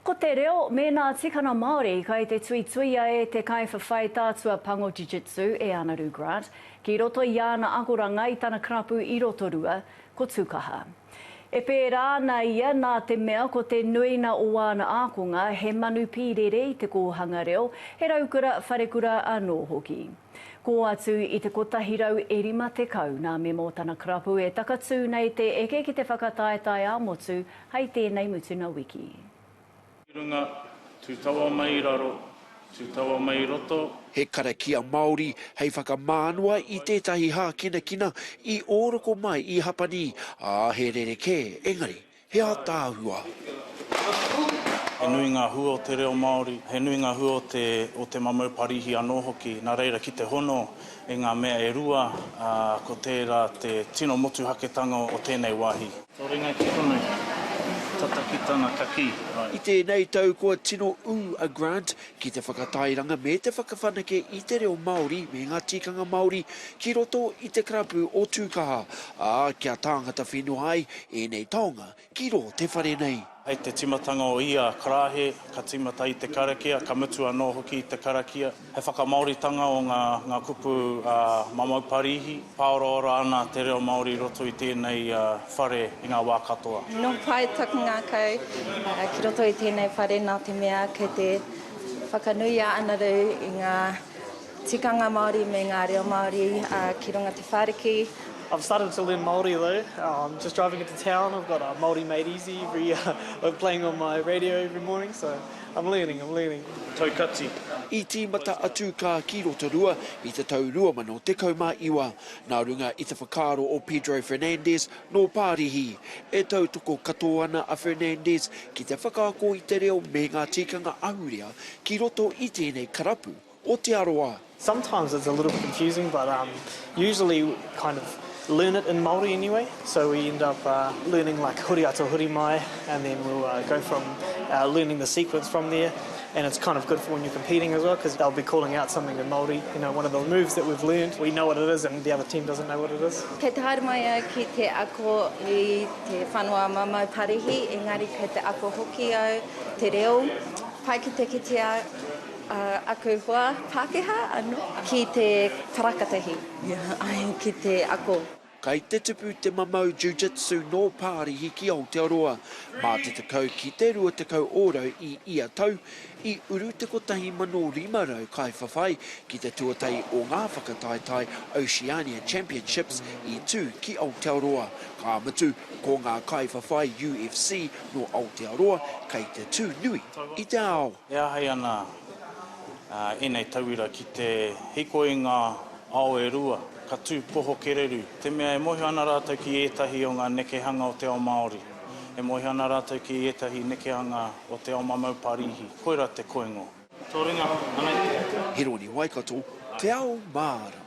Ko te reo mēnā tikana Māori kai te tuituia e te kaiwhawhai tātua pango Jiu-Jitsu e Anaru Grant ki roto i āna akoranga i tana karapu i Rotorua, ko Tukaha. E pērā ana ia nā te mea ko te nuina o āna ākonga he manu pīrere i te kōhanga reo, he raukura, wharekura anō hoki. Kō atu i te kotahi rau e rima tekau nā Memo tana karapu e takatū nei te eke ki te whakataetae ā-motu hei tēnei mutunga wiki. Tū runga, tū tawa mai raro, tū tawa mai roto. He karakia Māori hei whakamānua i tētahi hākinakina i ōroko mai i Hapani, ā, he rerekē engari. He ātaahua. He nui ngā hua o te reo Māori, he nui ngā hua o te mamau parīhi anō hoki, nā reira ki te hono i ngā mea e rua, ko tērā te tino motuhaketanga o tēnei wāhi. Tō ringa ki konei, tata ki tana kakī. I tēnei tau kua tino ū a Grant ki te whakatairanga me te whakawhanake i te reo Māori me ngā tikanga Māori ki roto i te karapu o Tūkaha, ā, kia tāngata whenua ai ēnei taonga ki rō te whare nei. Hei te tīmatanga o ia karahe, ka tīmata i te karakia, ka mutu anō hoki i te karakia. He whakamāoritanga o ngā kupu a Mamau Parīhi, pāoraora ana te reo Māori i roto i tēnei whare i ngā wā katoa. Nō pai taku ngākau ki roto i tēnei whare nā te mea kei te whakanui a Anaru i ngā tikanga Māori me ngā reo Māori ki runga te whāriki. I've started to learn Māori though, just driving into town I've got Māori made easy playing on my radio every morning so I'm learning, I'm learning. Tau kati. I tīmata atu kā ki Rotorua i te tau 2019, Nā runga i te whakaaro o Pedro Fernandez nō Pārihi, e tautoko katoa ana a Fernandez ki te whakaako i te reo me ngā tikanga ahurea ki roto i tēnei karapu o Te Arawa. Sometimes it's a little bit confusing but um usually kind of learn it in Māori anyway so we end up learning like huri ata huri mai and then we'll go from learning the sequence from there. And it's kind of good for when you're competing as well because they'll be calling out something in Māori, you know, one of the moves that we've learned, we know what it is and the other team doesn't know what it is. Kei te haere mai au ki te ako i te whanua mamau parihi, engari kei te ako hoki au te reo, pai ki te kitea aku hoa Pākehā anō ki te wharakatahi, ki te ako. Kai te tupu te mamau Jiu-Jitsu nō Pārihi ki Aotearoa. Mā te tekau ki te rua tekau ōrau i ia tau, i uru te 1,500 kaiwhawhai ki te tuatahi o ngā whakataetae Oceania Championships i tū ki Aotearoa. Ka mutu, ko ngā kaiwhawhai UFC nō Aotearoa kei te tū nui i te ao. E āhei ana ēnei tauira ki te hikoi ngā ao e rua, ka tū poho kereru, te mea e mōhio ana rātou ki ētahi o ngā nekehanga o te ao Māori, e mōhio ana rātou ki ētahi nekehanga o te ao mamau Parīhi, koirā te koingo. Tō ringa, anei te. Hironi Waikato, Te Ao Mārama.